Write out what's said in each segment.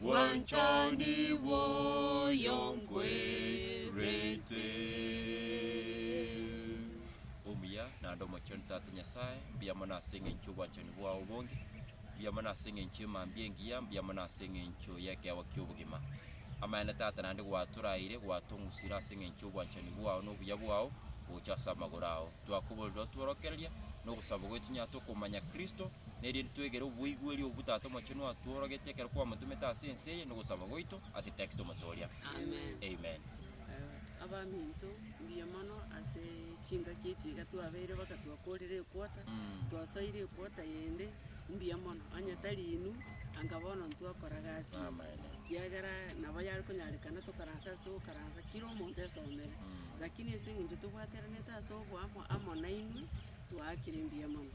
Bwanchani bwoyo nkwerete. Omuya naende omochenu Tata Nyasae, mbuya mono ase engencho y'obwanchani bwao obonge, mbuya mono ase engencho y'emambia engiya, mbuya mono ase engencho y'ekeegwa ki'obogima. Amaene Tata naende gwatoraeire, gwatong'usire ase engencho y'obwanchani bwao na obuya bwao, gocha ase amagoro ao. twakoborerwa otworokereria, na ogosaba gwaito tonyare tokomanya Kristo, na erinde twegere oboigweri obwo Tata Omochenu atworogete ekero kwamotomete ase ense eye, na ogosaba gwaito ase Kristo omotooria. Amen. Amen. Eh, abaminto mbuya mono ase chingaki echi iga twabeire baka twakorire equota Mm. twasoire equota yende mbuya mono onye tari inwe anga bono ntwakora gasi Amaene. kiagera nabo yare konyarekana tokaranse ase togokaransa kira omonto esomere Mm. Lakini ase engencho tobwateranete ase oboamo amo nainwe, twaakire mbuya mono.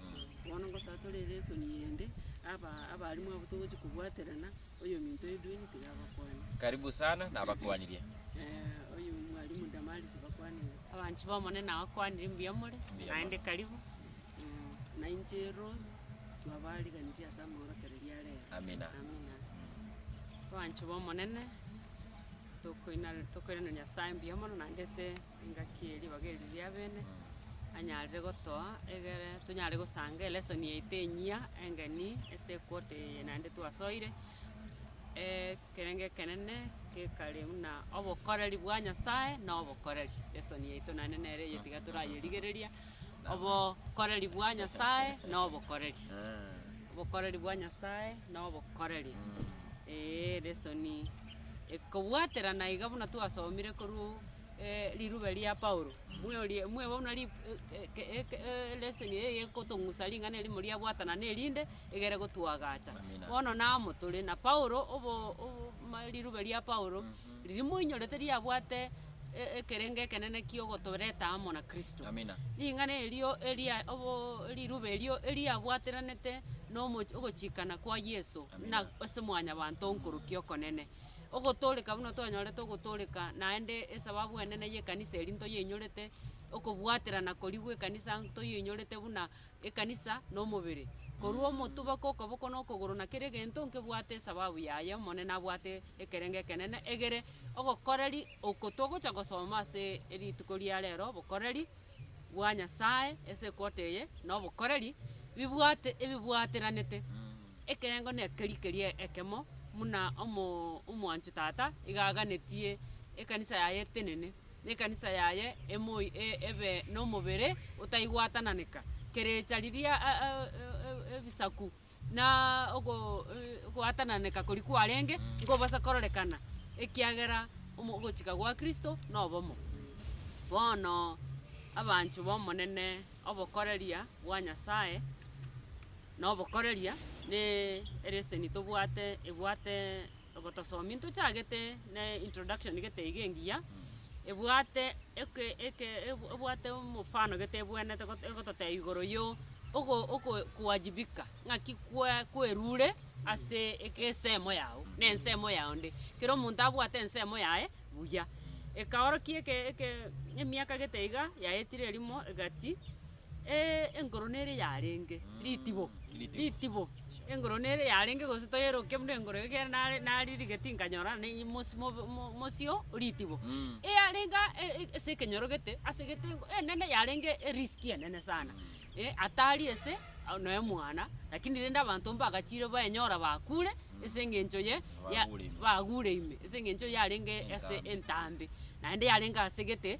Bono ngosaba tore ere esoni yende, aba abalimu abwo togochia kobwaterana, oyominto Edwin tiga abakwane. Karibu sana nabakwanirie. Eh, oyomwalimu Damaris bakwanire. Abanchi b'Omonene abakwanire mbuya more, Mbuya naende mono. karibu. Mm, nainche Rose, twabariganirie ase amaorokererio a rero. Amina. Amina. Abanchi b'Omonene. Tokoina- Tokoiraneria Nyasae mbuya mono naende ase engaki ye ribaga eri riabene, anyarire gotoa egere tonyare gosanga elesson yaito enyia engeni ase equota eye naende twasoire ekerengo ekenene gekare buna obokoreri bwa Nyasae na obokoreri. Lesson yaito naende nere eye tiga torayerigereria, obokoreri bwa Nyasae na obokoreri. Obokoreri bwa Nyasae na obokoreri, eeh lesson. Kobwaterana iga buna twasomire korwa riruba erio ria Paulo, mweorie, mweboe buna ri- e- e- eke eleseni eye egekotong'usa ring'ana erimo riabwatana na erinde egere gotuagacha. Amina. Bono namo tore na Paulo obo- o- ma riruba ria Paulo, riria moinyorete riabwate. e- ekerengo ekenene kiogotoreta amo na Kristo. Amina. Ring'ana erio eria obo riruba erio eriabwateranete nomoch- ogochikana kwa Yeso Amina. na ase mwanyabanto onkorokia okonene. Ogotoreka buna twanyorete ogotoreka naende esababu enene y'ekanisa eri ntoyeinyorete, okobwaterana koria gw'ekanisa ntoyeinyorete buna ekanisa nomobere, korwa omotuba kokoboko nokogoro na kera egento nkebwate esababu yaye Omonene abwate ekerengo ekenene egere ogokoreri oko togocha gosoma ase erituko ria rero obokoreri bwa Nyasaye ase equote eye nobokoreri bibwate ebibwateranete ekerengo nekeri keria ekemo muna omo omwanchu tata iga aganetie ekanisa yaye etenene. nekanisa yaye emoi e, ebe nomobere otaigwatananeka, kerecha riria a, a, e, e, ebisaku na ogo, e, ogwatananeka koria kwarenge nkobasa kororekana, ekiagera omo, ogochika gwa Kristo nobomo. Bono, abanchwa b'Omonene, obokoreria bwa Nyasaye na obokoreria ne ereseni tobwate ebwate. ogotosomi ntochagete ne introduction gete iga engiya, ebwate eke eke ebu- ebwate omofano gete ebwenete got- egototebia igoro yo ogo ogo kuwajibika, ng'aki kwe kwerure ase eke ensemo yago, na ensemo ya onde. Kera omonto abwate ensemo yaye buya. Ekaorokia eke eke emiaka gete iga yaetire erimo egati. Ee, engoro nere yarenge Mm, ritibo, ritibo. ritibo. Sure. Engoro nere yarenge gose toyerokia buna engoro egere nare naririgeti nkanyorana na eye mosi mobe- mo- mosio ritibo. Mm. Eyarenga e- e- ase ekenyorogete ase gete engo enene yarenge erisk enene sana. Mm. Eh, atari ase au noe mwana, lakini rende abanto mbagachire baenyora bakure Mm. ase eng'encho ye ya- Bagure ime. bagure ime ase eng'encho yarenge ase Entambe. entambe, naende yarenge ase gete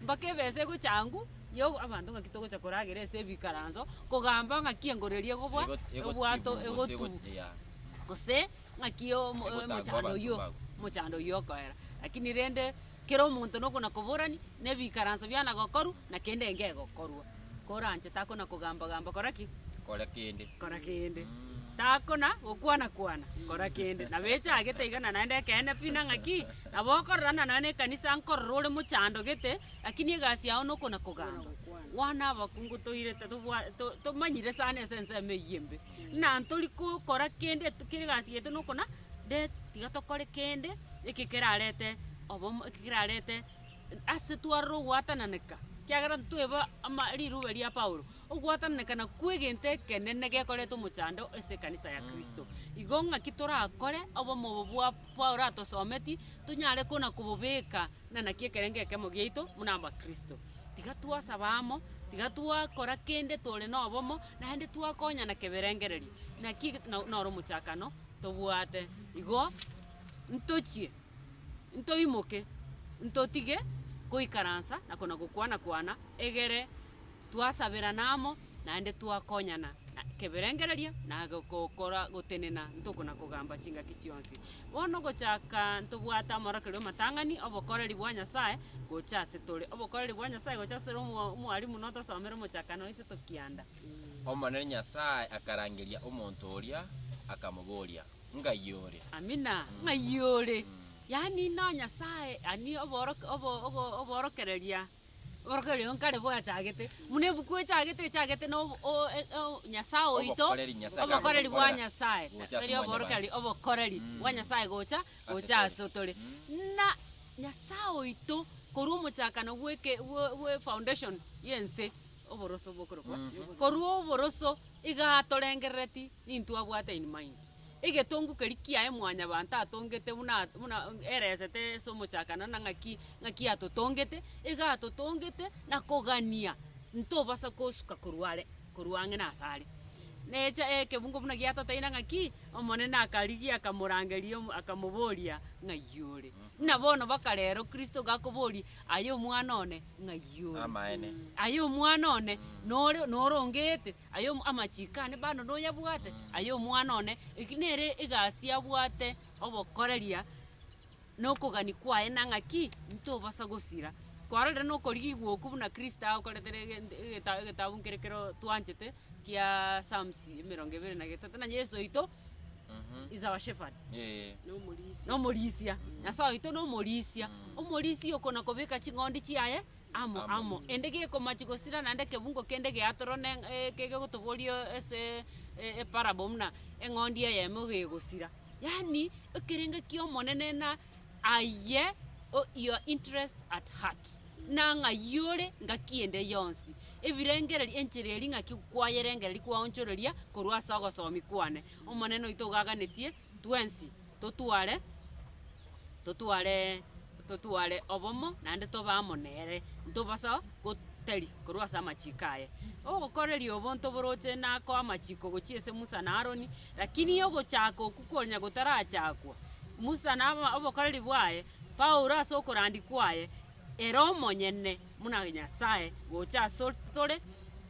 Mpaka ebesa egocha ang'u yo abanto ng'aki togocha koragera ase ebikaranso kogamba ng'aki engoro eria egobua obwato egotugwa gose ng'aki omo- Egotangwa omochando abanto oyio mbao. omochando oyio okoera lakini rende kera omonto nokona koborani na ebikaranso biana gokorwa na kende enke egokorwa. koranche takona kogamba-gamba kora ki? Kora kende. kora kende takona gokwana-kwana kora kende nabo echagete iga na naende ekeene pi nang'a ki nabo okorora na nonya na ekanisa nkorora ore mochandogete lakini egasi yao nokona kogamba bwana abakungu toirete tobwa- to- tomanyire sana ase ensemo eyio embe buna ntori kokora kende t- kera egasi yaito nokona de tiga tokore kende eke kerarete obomo eke kerarete. ase twarore ogwatananeka, ekiagera ntweba ama riroba ria Paulo, ogwatananeka nakwo egento ekenene gekoreta omochando ase ekanisa ya Kristo. Igo ng'aki torakore obomo obo bwa Paulo atosometie, tonyare kona kobobeka na naki ekerengo ekemo giaito buna abakristo. Tiga twasaba amo, tiga twakora kende tore na obomo, naende twakonyana keberengererio, naki noro omochakano tobwate. Igo ntochie. ntoimoke, ntotige goikaransa na kona-gokwana-kwana, egere twasaberana amo, naende twakonyana na ekeberengererio na go- gokora gotenena ntokona-kogamba chingaki chionsi. Bono gochaka ntobwate amarokerio ’omatang'ani, obokoreri bwa Nyasae gocha ase tore, obokoreri bwa Nyasae gocha ase tore omo- omwarimu notosomere omochakano o Iseto kianda. Omonene Nyasae akarangeria omonto oria, akamoboria, ng'ai ore. Amina, ng'ai ore. Yaani no Nyasaye, yaani obooroke, obo, ogo, oboorokereria, oboorokereria oyo nkare bwachagete, buna ebuku echagete, echagete na obo, o, e, e, o, Nyasaye oito, Obokoreri Nyasaye obokoreri bwa kagotokorera Nyasaye, gocha ase tari omwanya bwanto. oboorokereri, obokoreri Mm. bwa Nyasaye gocha, gocha Asetore. asotore. Mm. Na Nyasaye oito, korwa omochakano bw'eke, bwe, bwe foundation y'ense, oboroso bokorokwa, Mm. korwa oboroso iga atorengerereti. Nintwabwate in mind. Egetongu keria kiaye mwanyabanto atongete buna buna eresete ase omochakano na ng'aki ng'aki atotongete, iga atotongete na kogania ntobasa kosuka korwa are korwa ang'e na asare. Necha ekebungo buna giatoteine ng'aki, Omonene akarigia akamorangeria omo akamoboria, Ng'ai ore? Buna bono baka rero Kristo iga akoborie, Aye omwana one, ng'ai ore? Amaene. Aye omwana one, nore noro ongeete? Aye amachiko aane bando noyabwate? Aye omwana one, eki nere egasi abwate obokoreria nokogania kwaye na ng'aki ntobosa gosira. Kwarorire nokorigigwa okwo buna Kristo agokorete negento egeta egetabu nkere keroo twanchete kia Psalms emerongo ebere na getato na Yeso oito is our shepherd. Eeh. Nomorisia. Nomorisia. Nyasae oito nomorisia. Omorisia oko nakobeka ching'ondi chiaye amo amo, ende gekomachi gosira naende ekebungo kende geatoro ne kegotoboria ase eparable buna eng'ondi eyemo iga egosira. Yaani ekerengo ki'Omonene na aye your interest at heart, na ng'ai ore ngaki ende yonsi, ebirengereri enchera eria ng'aki kwayerengereria kwaonchoreria korwa ase ogosomi kwane. Omonene oito ogaganetie. twensi totware, totware, totware obomo naende tobe amo nere, ntobasa gotari korwa ase amachiko aye. Ogokoreria obonto boroche nakoa amachiko gochia ase Musa na Aroni, lakini ogochaka okwo konya gotarachakwa, Musa na aba- obokoreri bwaye, Paulo ase okorandia kwaye, ere omonyene buna Nyasaye gocha asore tore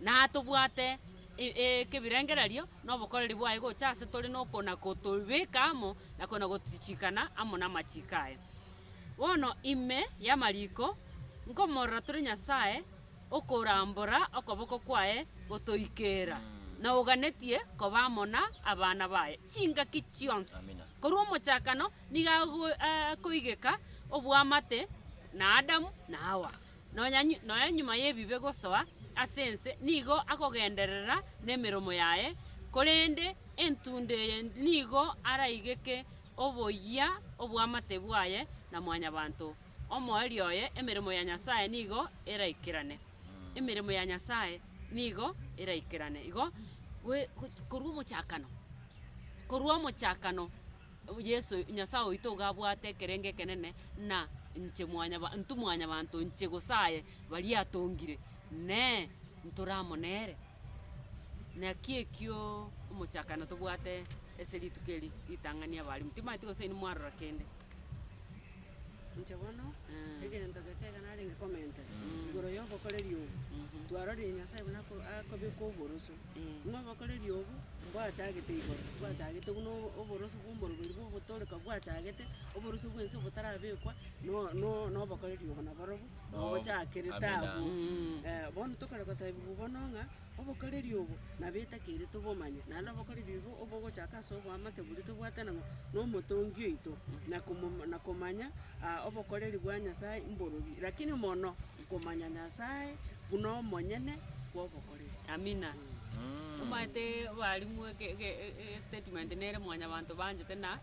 natobwate. ekebirengererio nobokoreri bwaye gocha ase tore nokona gotobeka amo nakona gotichikana amo namachiko aye. Bono ime yamariko nkomorora tore Nyasaye okorambora okoboko kwaye gotoikera na oganetie koba amo na abana baye chingaki chionsi Amina. korwa omochakano nigo ago- akoigeka obwamate na Adamu na Hawa. Nonya noe nyuma y'ebibe gosoa ase ense nigo akogenderera nemeromo yaye, korende entunda eye nigo araigeke oboyia obw'amate bwaye na Mwanyabaanto omoerio oye, emeremo ya Nyasae nigo eraikerane. Emeremo ya Nyasae nigo eraikerane igo, goe korwa omochakano, korwa omochakano. Yeso, Nyasae oito iga abwate ekerengo ekenene, na inche mwanyaba intwe mwanyabanto inche gosaye baria atongire, Inee! Ntore amo nere? Naki ekio omochakano tobwate ase rituko eri ritang'ani abalimu, timanyeti gose inwe mwarora kende. Inche bono, Eh. egento gete iga narenge komentera igoro yobokoreri obo, Mhm. twarorie Nyasae buna ako- akobeka oboroso. Ng'a obokoreri obo mbwachagete igoro, bwachagete buna oboroso bw'omoroberi bw'ogotooreka bwachagete, oboroso bw'ense obotarabekwa, no- no- nobokoreri obo naborobwo ogochakire Amina. taabu. Eh, bono tokore gotebiwa bono ng'a obokoreri obo nabo etakeire tobomanye, naende obokoreri obo obogochaka ase oboamate boria tobwate nang'o na omotongi oito, na komo- na komanya ah, obokoreri bwa Nyasae mborobio, lakini mono komanya Nyasae buna omonyene bw'obokoreri. Amina. Omanyete obalimu eke eke egesitatimenti nere mwanyabanto banchete na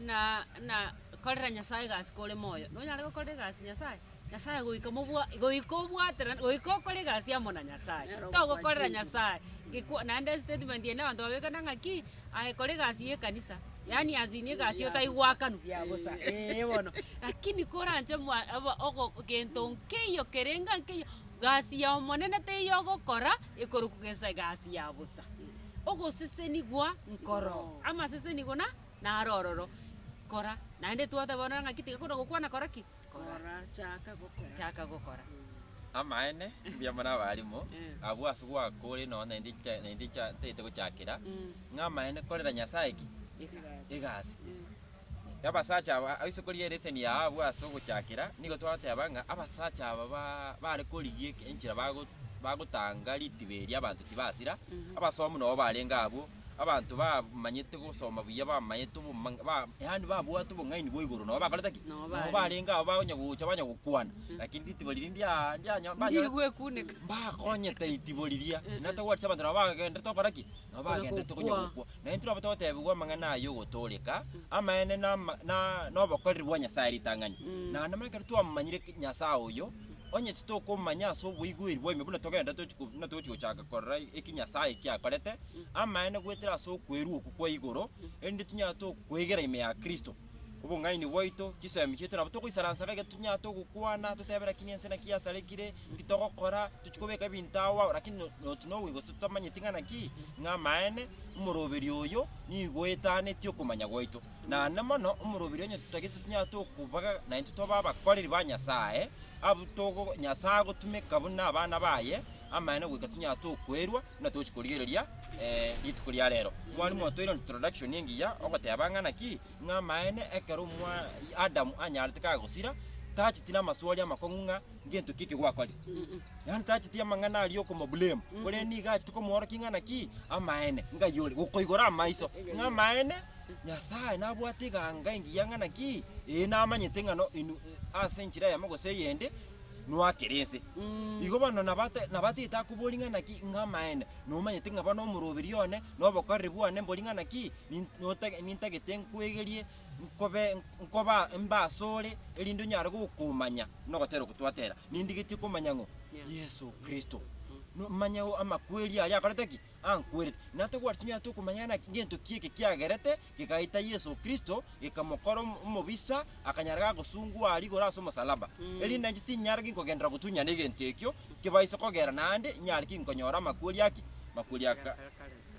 na na korera Nyasaye egasi kore moyo. Nonyare gokorera egasi Nyasaye, Nyasaye goika mobwa goika obwatera goika okore egasi amo na Nyasaye. Nero Togokorera okwachete. Nyasaye gekwa naende esitatimenti ende abanto babekana ng'a ki, aye kora egasi ya ekanisa, yaani as in egasi Ya otai bosa. goakanwa ya bosa ee bono. Lakini koranche mwa aba ogo gento nkeiyo kerenge nkeiyo. Gasi y'Omonene teiyo ogokora ekoroku gesa egasi ya bosa. Ogosesenigwa nkoro, amasesenigwa na naro ororo. Kora, naende twatebana ng'aki tiga kona gokwana kora ki? Kora, Kora, chaka gokora. chaka gokora. Amaene, mbuya mono abarimo, Eh. abwo ase goaka ore nonya naende echa- naende echa- tagete gochakera, Mm. ng'a amaene korera Nyasae ki? Egasi. Egasi. Mm. y'abasacha aba ase koria ereseni ya Ahabu ase ogochakera, nigo twagoteba ng'a abasacha aba ba bare korigia eke- enchera bago bagotanga ritiba eria abanto tibasira, abasomi nabo barenge abwo, abanto bamanyete gosoma buya bamaete oboma ba yaani babwate obong'aini bwa igoro nabo bakorete ki? Nabo Nabo barenge. barenge abwo bakonya gocha banya gokwana, lakini ritibo riria ndia ndianya banya Ndigwekuneka. mbakonyete ritibo riria, natogochia abanto nabo bagenderete gokora ki? Nabo Konya bagenderete konya gokwana. gokwa. Na intwe nabo togoteebigwa amang'ana aya y'ogotooreka amaene na na nobokoreri bwa Nyasae ritang'ani. Mm. Na namanya ekero twamomanyire Nyasae oyo, onye titokomanya ase oboigweri bwaino buna togenda tochi ko- buna togochi gochaka korora eki Nyasae eki akorete, amaene goetera ase okwerua okwo kwa igoro, erinde tinyare tokwegera ime ya Kristo. Obong'aini bwaito, chisemi chiaito nabo togoisaransa ng'a getunya togokwana, totebe rakini ense naki yasarekire, inki togokora, tochi kobeka ebinto agwo agwo, rakini no- noti noboigo totamanyeti ng'a naki, ng'a amaene, omoroberi oyo nigo oetanetie okomanya gwaito. Naende mono, omoroberi onye totagete tonya tokobaga naintwe twaba abakoreri ba Nyasae, abwo togo Nyasae agotumeka buna abana baye, amaene goika tonya tokoerwa, Buna tochi korigereria rituko ria rero, mwarimu otoire introduction engiya ogoteba ng'a naki ng'a amaene ekero omwa Adam anyarete kagosira, tacheti namaswali amakong'u ng'a ngento ki eke gwakore. Yaani tacheti amang'ana aria okomoblame, korende niga acheti komoorokia ng'a naki amaene ng'ai ore, gokoigora amaiso ng'a amaene Nyasaye nabwate eganga engiya ng'a naki ee namanyete ng'a no in ase enchera eyemo gose eyende noakera ense. Igo bono nabate- nabatete akoboria ng'ana ki ng'amaene, nomanyete ng'a bono omoroberio one na obokoreri bwane mbori ng'ana ki, nin- notage- nintagete nkwegerie nkobe nkoba mbe asore, erinde onyare gokomanya na ogotera ogotwatera. Nindigetie komanya ng'o Yeso Kristo, no- manye o- amakweri aria akorete ki? ankwerete. Natagwati chinyara tokomanya ng'a naki- ngento ki eke kiagerete gegaita Yeso Kristo, gekamokora om- omobisa, akanyara gagosungwa aria igoro ase omosalaba. Mm. Erinde inche tinyare ginkogenderera gotunyana egento ekio, nkebaise kogera naende, inyare ki nkonyora amakweri ake? Makweri ya ka-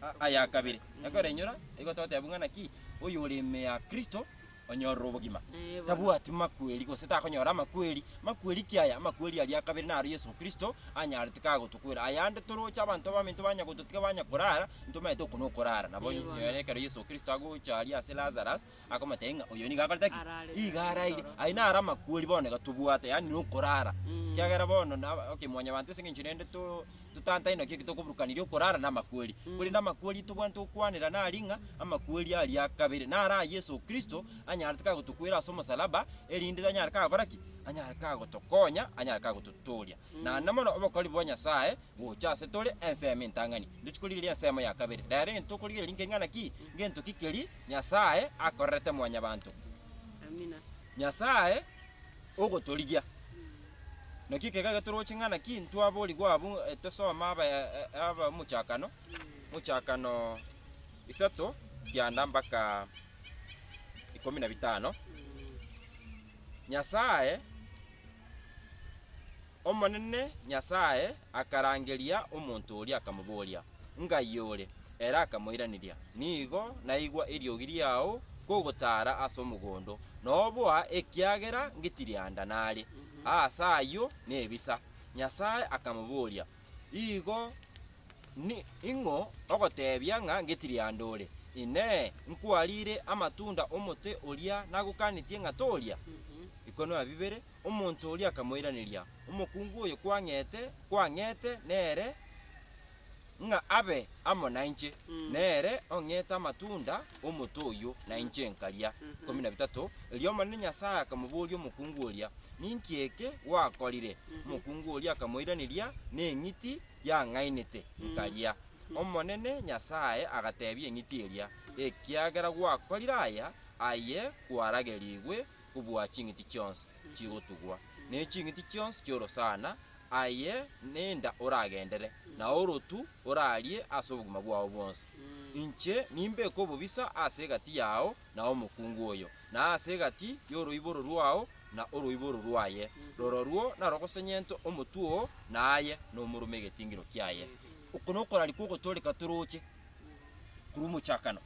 a- aya kabere. Ekorenyora, nigo togoteba buna ng'aki, oyore ime ya Kristo, onyorire obogima. Eh, bono. Tabwati makweri, gose takonyora amakweri. Makweri ki aya? Amakweri aria a kabere naro Yeso Kristo anyarete kagotokwera. Ayande toroche abanto abamento banya gototiga banya korara, ntomanyete oko nokorara. Nabo Ee, bono. nere ekero Yeso Kristo agocha aria ase Lazarus, akamotebia ng'a oyo nigo akorete ki? Araarire Nigo nere araire. esoro. Aye naro amakweri bono iga tobwate, yaani nokorara. Mm. Ekiagera bono na okay, mwanyabanto ase eng'encho rende to- totantane naki eki tokoburukaniria okorara na amakweri. Mm. Korende amakweri tobwanete gokwanera nari ng'a, amakweri aria a kabere. Naro aya Yeso Kristo anyarete kagotokwera ase omosalaba, erinde anyare kagokora ki? Anyare kagotokonya, anyare kagototooria. naende mono obokori bwa Nyasae gocha ase tore ensemo entang'ani. Ntochie korigereria ensemo ya kabere. Rero egento tokorigereria nkeng'ana ki? Ngento ki keria Nyasae akorerete mwanyabanto? Nyasae ogotorigia. Naki ekero iga toroche ng'ana ki ntwaborigwa abwo eh, tosome aba eh, aba omochakano, mochakano isato kianda mpaka ikomi na bitano. Nyasae Omonene Nyasae akarangeria omonto oria, akamoboria, Ngaiyo ore? Ere akamoiraneria, Nigo naigwa eriogi riao kogotaara ase omogondo, na oboa ekiagera ngitirianda nare, aase ayio nebisa. Nyasae akamoboria, Igo ning'o ogoteebia ng'a ngetirianda ore? Inee! Nkwariire amatunda 'omote oria nagokanetie ng'a toria? Ikono na bibere. Omonto oria akamoiraneria, Omokungu oyo kwang'ete, kwang'ete nere ng'a abe amo nainche, nere ong'ete amatunda. omote oyio, na inche nkaria. Ikomi na bitato, Erio Omonene Nyasae akamoboria omokungu oria, Ninki eke gwakorire? Omokungu oria akamoiraneria, Neng'iti yang'ainete, nkaria. Omonene Nyasae agateebia eng'iti eria, Ekiagera gwakorire aya, aye kwaragerigwe kobua ching'iti chionsi chigotugwa, ne ching'iti chionsi chi'orosana, aye nenda oragendere, na orotu orarie ase obogima bwao bwonsi. Inche nimbeke obobisa ase egati yao na omokungu oyo, na ase egati y'oroiboro rwao na oroiboro rwaye, rororwo narogosenyente omotwe oo, na aye nomorome egetingiro kiaye. Oko nokoraria kw'ogotooreka toroche. korwa omochakano.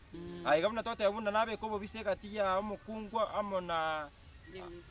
Aye iga buna twateba buna nabeke obobisa egati ya omokungwa amo na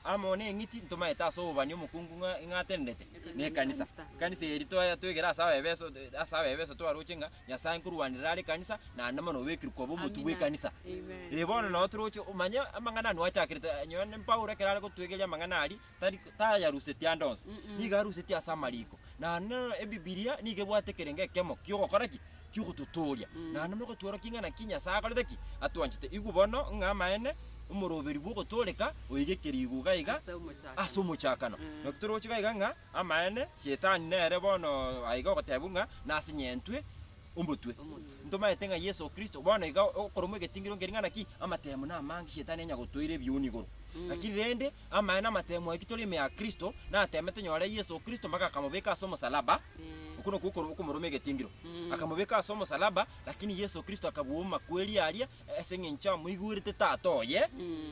amo na eng'iti ntomaete ase obobani omokungu ng'a ng'a atenenete na ekanisa. Ekanisa eri toye toegere ase abaefeso ase abaefeso twaroche ng'a Nyasae nkorwanera are ekanisa naende mono obekirwe koba omotwe Amina. bw'ekanisa. Amen. Eh bono nabo toroche omanye amang'ana anwo achakerete, nonye Paulo ekero are gotuegeria amang'ana aria, tari tayarusetie ande onsi, Mm-mm. nigo arusetie ase amariko. Na nero Ebibilia nigo ebwate ekerengo ekemo ki'ogokora ki? Ki'ogototooria. Mm. Naende mogotworokia ng'a naki Nyasae akorete ki? Atwanchete. Igwa bono ng'a amaene omoroberi bw'ogotooreka oigekire iguga iga Ase omochakano. ase omochakano. Mm. Naki toroche iga iga ng'a amaene Shetani nere bono aiga ogoteebwa ng'a nasenyentwe omotwe. Omotwe. Ntomaete ng'a Yeso Kristo bono iga okoromwa egetingiro ngeria ng'a naki amatemo namange Shetani onye agotoire ebiuni igoro. Mm. Lakini rende Amaene amatemu aitwe tore ime ya Kristo, natemete nyore Yeso Kristo mpaka akamobeka ase omosalaba, okwo nokwo okoro- okomoroma egetingiro. Akamobeka ase omosalaba, lakini Yeso Kristo akabua omomakweri aria ase eng'encho amoigwerete Tata oye.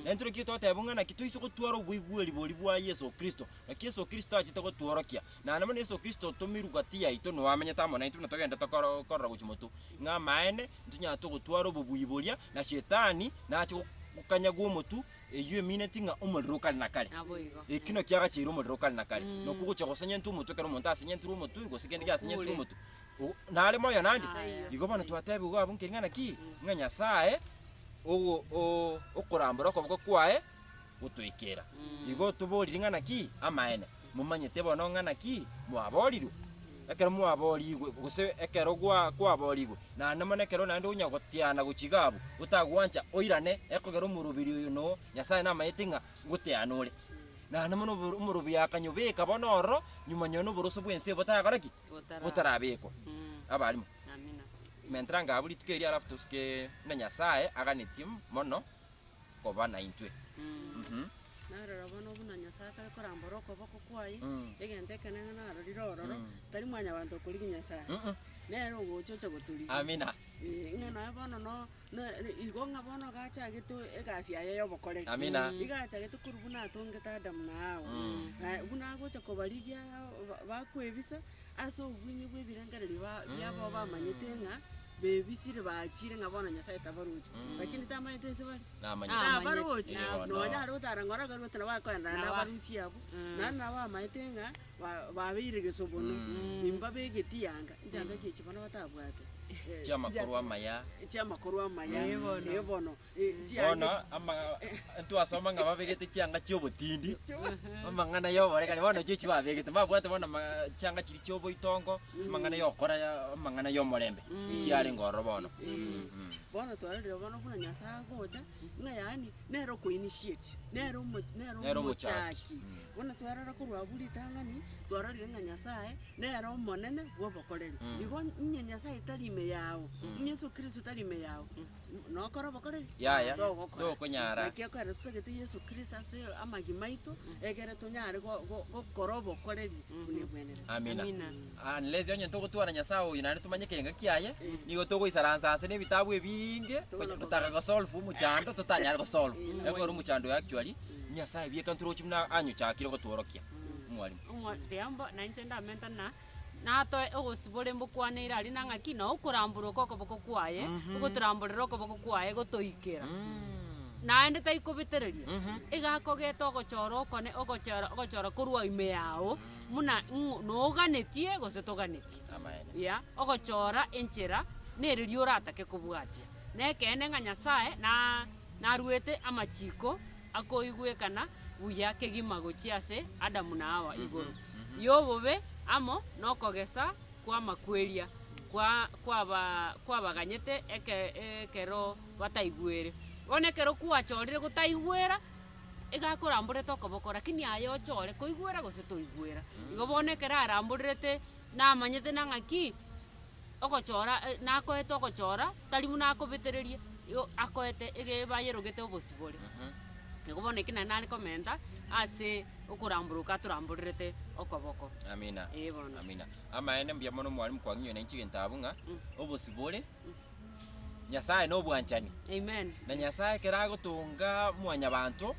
Na intwe naki toteba ng'a naki toise gotwara oboigweri boria bwa Yeso Kristo, naki Yeso Kristo achete gotworokia. Na nabo na Yeso Kristo otomirwe gati yaito, noo amenyete amo naintwe buna togenda tokoro- korora gochia motwe. Ng'a amaene, ntinyare togotwara obobui boria, na Shetani nache go- gokanyagwa omotwe, Eyio emineti ng'a omorero o kare na kare. Naboigo. Ekio nakio agacheire omorero o kare na kare. Mm. Nakwo ogochia gosenyentwa omotwe ekero omonto asenyentirwe omotwe, gose kende giasenyentirwe Okure. omotwe, o- nare moyo nande. Aya. Igo bono twatebiwu abwo nkeri ng'a naki? Mm. Ng'a Nyasaye ogo- o- okorambora okoboko kwaye gotoikera. Mm. Igo toboriri ng'a naki? Amaene. momanyete bono ng'a naki mwaborirwe, ekero mwaboorigwe, gose ekero gwa- kwaboorigwe, naende mono ekero naende onya goteana gochiga abwo, otagwancha oirane ekogera omorobiri oyo no Nyasae namayete ng'a ngoteana ore. Naende mono oboro- omorobi akanyobeka bono ororo, nyuma nyono oboroso bw'ense botagakore ki? Botara- botarabekwa. Mm. Abarimo. Amina. Mentera ngabo rituko erio alafu tosike buna Nyasae aganetie mono koba naintwe. Mhm. Na rora bono, buna Nyasae akare korambora okoboko kwaye, Mm. egento ekenene narorire ororo, Mm. tari mwanyabanto okorigia Nyasae, Mhm. nere ogocha oche gotorigia. Amina. Eh, ng'a naye bono no- no- igo ng'a bono gachagete egasi yaye y'obokoreri. Amina. Igo achagete korwa buna atongete Adamu na Hawa. Mm. Na buna agocha kobarigia ba- bakwebisa, Ase obweng'e bw'ebirengererio ba- biabo bamanyete ng'a bebisire baachire ng'a bono Nyasae tabaroche. Lakini tamanyete inse bare. Namanyete. Amanyete. Tabaroche. Ee, bono. Nonya aria otara ng'a oragarwe oti nabo akoendana Nabo- nabarusia abwo. Mm. Naende nabo bamanyete ng'a ba- babeire egesobono. Mm. Imba begeti yanga. Nchanda eki echi bono batabwate. Eh, Chi'amakoro amaya. chi'amakoro amaya. Ee, bono. Ee, bono. Bono ama- ntwasoma ng'a babegete chianga chi'obotindi, amang'ana y'oborekani, bono echi echi babegete, mbabwate bono ama- chianga chiria chi'oboitongo, amang'ana y'okora amang'ana y'omorembe, chiarenge ororo bono. Mm. Bono twarorire bono buna Nyasae agocha, ng'a yaani nere okoinitiate, nere omo- nere Nere omochaki. omochaki. Mm. Bono twarora korwa abwo ritang'ani, twarorire ng'a Nyasae nere omonene bw'obokoreri. Mm. Igo inye Nyasae tari ime yao, inye Yeso Kristo tari ime yao, Yaya, togokonyara. Amina. Unless onye togotwara Nyasae oyo naende tomanye ekerengo kiaye, nigo togoisaransa ase nebitabu ebinge gocha gotaka gosolve omochando totanyare gosolve. Ekero omochando oyo actually Nyasae bieka ntoroche buna anyochakire gotworokia. Mwalimu. natoe ogosibora embokwaneire aria na ng'aki na okoramborwa kw'okoboko kwaye, ogotoramborera okoboko kwaye gotoikera. Naende taikobetereria, iga akogete ogochora okone ogochera ogochora korwa ime yao buna ng'o noganetie gose toganetie. Amaene. Yea, ogochora enchera na eriria oratake kobwatia. Nekeene ng'a Nyasae na- narwete amachiko akoigwekana buya kegima gochia ase Adamu na Hawa igoro y'obobe amo nokogesa kw'amakweria kwa kwaba kwabaganyete eke ekero bataigwere. Bono ekero kwachorire gotaigwera, iga akoramborete okoboko, lakini aye ochore koigwera gose toigwera. Igo bono ekero aramborerete namanyete nang'aki. ogochora nakoete ogochora tari buna akobetereria igo akoete ege bayerogete obosibore. Igo bono ekio naende nare komenta ase okoramboroka atoramborerete okoboko. Amina. Ee bono. Amina. Amaene mbuya mono mwarimu kwang'inyoire nainche egento abwo ng'a obosibore. Nyasae nobwanchani. Amen. Na Nyasae ekero agotonga mwanyabanto,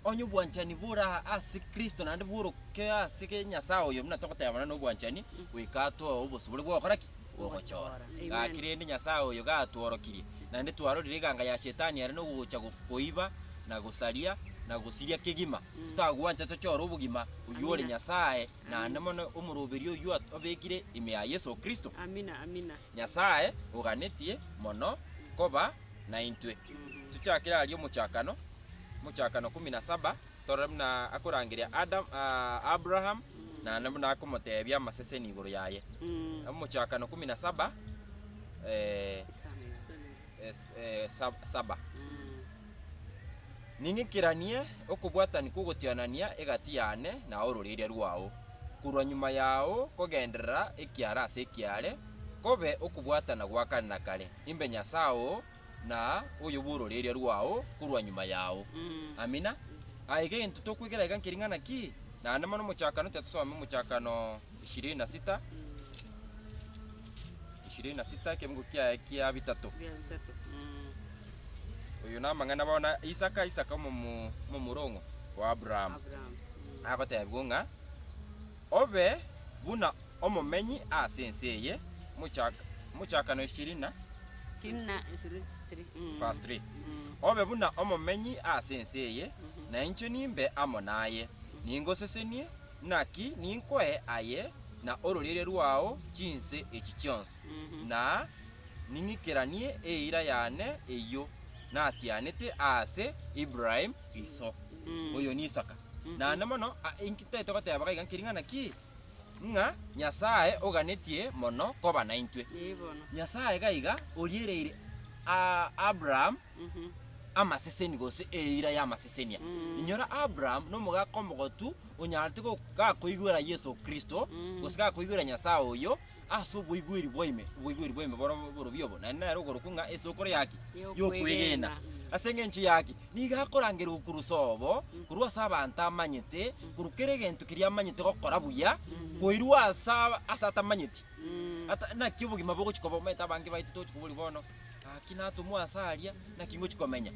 onye obwanchani bore ase Kristo naende bworoke ase ge Nyasae oyo, buna togoteba buna nobwanchani, goika atoe obosibore bw'ogokora ki? Bw'ogochora. Amen. Gaki rende Nyasae oyo gatworokirie, naende twarorire eganga ya Shetani ere nogocha go- koiba, na gosaria, na gosiria kegima, totagwancha tochore obogima oyio ore Amina. Nyasae, naende Amina. mono omoroberio oyio at- obekire ime ya Yeso Kristo. Amina, amina. Nyasae oganetie mono koba naintwe. Tuchakire aria omochakano, Mochakano kumi na saba, torore buna akorangeria Adam, ah, Abraham, na na buna akomotebia amaseseni igoro yaye. Omochakano kumi na saba, eh, es- eh, sab- saba. Ning'ikiranie okobwatani kw'ogotianania egati yane na ororeria rwao, korwa nyuma yao kogenderera ekiara ase ekiare, kobe okobwatana gwa kare na kare, imbe Nyasae oo na oyo bw'ororeria rwao korwa nyuma yao. Amina. Aye gento tokwegera iga nkering'ana ki? Naende mono omochakano, tiga tosome omochakano. ishirini na sita ishirini na sita ekemogo kiaye kia bitato Bia bitato. Mm. oyo namang'ana bona isaka isaka omomo- omomorongo wa abrahamu Abraham. Mm. agotebigwa ng'a obe buna omomenyi ase ense eye Mochak- mochakano ishirini na Ishirini na Three. three. Mm. verse 3 Mm. obe buna omomenyi ase ense eye Mhm. na inche nimbe amo naye ningosesenie Naki ninkoe aye na ororeria rwao chinse echi chionsi, na ning'ikeranie eira yane eyio natianete aase Ibrahimu iso oyo n'Isaka. Naende mono a, inki tari togoteba gaiga nkiring'ana ki? Ng'a Nyasae oganetie mono koba naintwe. Nyasae gaiga oriereire a, Abrahamu. amaseseni gose eira y'amasesenia. Inyora Abraham nomogaka omogotu onyarete go- gakoigwera Yeso Kristo, gose gakoigwera Nyasae oyo ase oboigweri bwaime, oboigweri bwaime boro borobio obo, naende nere okorokwa ng'a esokoro ya ki? Y'okwegena. Ase engencho ya ki? Nigo akorangerwa korwa sobo, korwa ase abanto amanyete, korwa kera egento keria amanyete gokora buya, koirwa ase aba- ase atamanyeti. Ata- naki obogima bogochia koba omanyete abange baito togochia koboria bono. Gaki natomwa ase aria, naki ngochia komenya?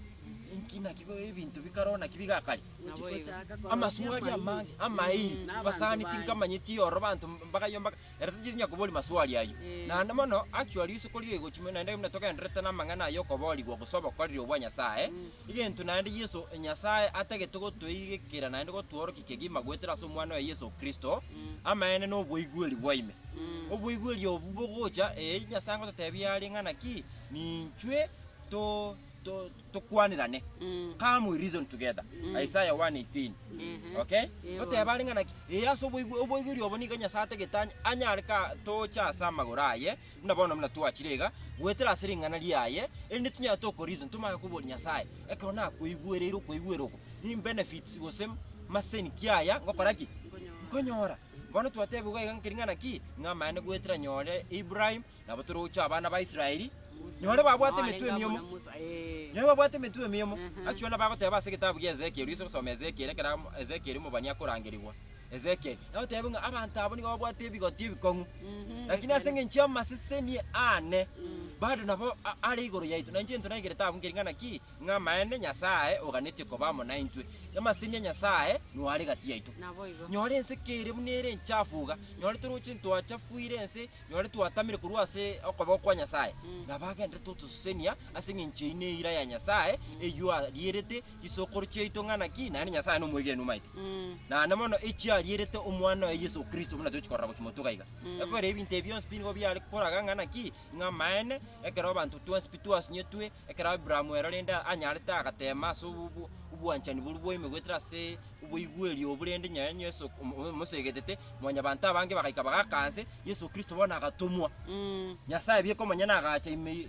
Inki naki go- ebinto bikaroo naki bigakare? Gochia ase- Amasuo aria amange, amairi, abasani tinkamanyeti ororo abanto mbagaiyo mbaga, ere tacheti onya koboria masuo aria ayio. Naende mono, actually, risuko rigochia mono naende buna togendererete namang'ana aya okoborigwa gose obokoreri obwa Nyasae, Egento naende Yeso Nyasae atagete gotoigekera naende gotworokia kegima goetera ase Omwana oye Yeso Kristo, amaene na oboigweri bwa ime. Oboigweri obwo bogocha, ee, Nyasae ngototebia are ng'ana ki, ninchwe to, to, tokwanerane. Come we reason together. Isaiah 1:18. Okay? Goteba are ng'ana ki, ee, ase oboigwe- oboigweri obo nigo Nyasae atagete any- anyare ka tocha ase amagoro aye, Buna bono buna twachire iga goetera ase ring'ana riaye, erinde tinyare tokoriisa ntomanye koboria Nyasae ekero nakoigwereire okoigwera oko, ni benefits gose maseni ki aya ngokora ki? Nkonyora. Bono twatebigwa iga nkeri ng'ana ki? Ng'a amaene goetera nyore Ibrahim, nabo tore gocha abana ba Israeli, nyore babwate emetwe emiomo, nyore babwate emetwe emiomo. Achwa nabagoteba ase egetabu gia Ezekiel, oise gosoma Ezekiel, ekero Ezekiel omobani akorangerigwa. Ezekieli, nagoteebia ng'a abanto abwo nigo babwate ebigoti ebikong'u, lakini ase engencho y'amaseseni aane, bado nabo a- are igoro yaito, na inche ntonaegerete abwo nkeri ng'a naki, ng'a amaene Nyasae oganetie koba amo naintwe, na amaseseni a Nyasae noo are gati yaito. Naboigo. Nyora ense kere buna ere enchafu iga, nyore toroche ntwachafuire ense, nyore twatamire korwa ase okoboko kwa Nyasae, nabo agenderete otosesenia ase engencho eyio neira ya Nyasae, eyio arierete, Chisokoro chiaito ng'a naki naende Nyasae nomwegenu omaete, naende mono echiarierete Omwana oye Yeso Kristo, buna tochi korora gochia motuko iga. Ekweri ebinto ebi bionsi pi nigo biare koraga ng'a naki, ng'a amaene, ekero abanto twensi pi twasinyetwe, ekero Aburaamu erorende anyarete agateema ase obo- obo- obwanchani boria bwaime goetera ase oboigweri obo rende nyoo enye Yeso omo- omosegetete, mwanyabanto abange bagaika bagaaka nse, Yeso Kristo bono agatomwa. Nyasae bieka omonyene agacha ime.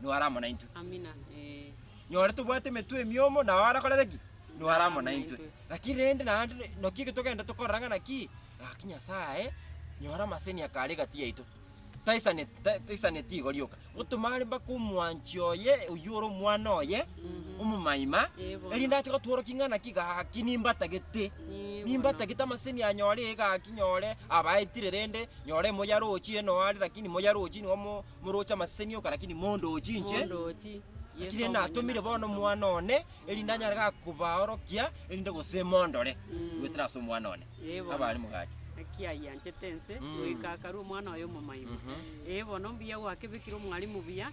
nigo are amo naintwe. Amina, ee. Nyore tobwate emetwe emiomo, nao are korera ki? Nigo are amo naintwe. Lakini rende naende re- naki eke togenda tokorora ng'a naki, gaki Nyasae, nyora amaseni aka are egati yaito, taisane ta- taisaneti igo rioka, gotomare mpaka omwanchi oye, oyio ore omwana oye, omomaima, Ee, bono. erinde ache gotworokia ng'a naki gaki nimbatagete, Ee, bono. nimbatagete amaseni anyore ee gaki nyore abaetire rende, nyore moyarochi eno are, lakini moyarochi nigo mo- Moroche amaseseni oka, lakini mondoochi inche, Mondoochi, Yeso lakini omonyene natomire bono akabisa omwana omosomba. one, erinde anyare ga kobaorokia, erinde gose mondore Mm. goetera ase omwana one. Ee bono. Abare mogachi. Naki ayianchete ense, Mm. goika akarua omwana oye omomaimbo. Mhm. Ee bono mbuya gwakebekire omwalimu buya,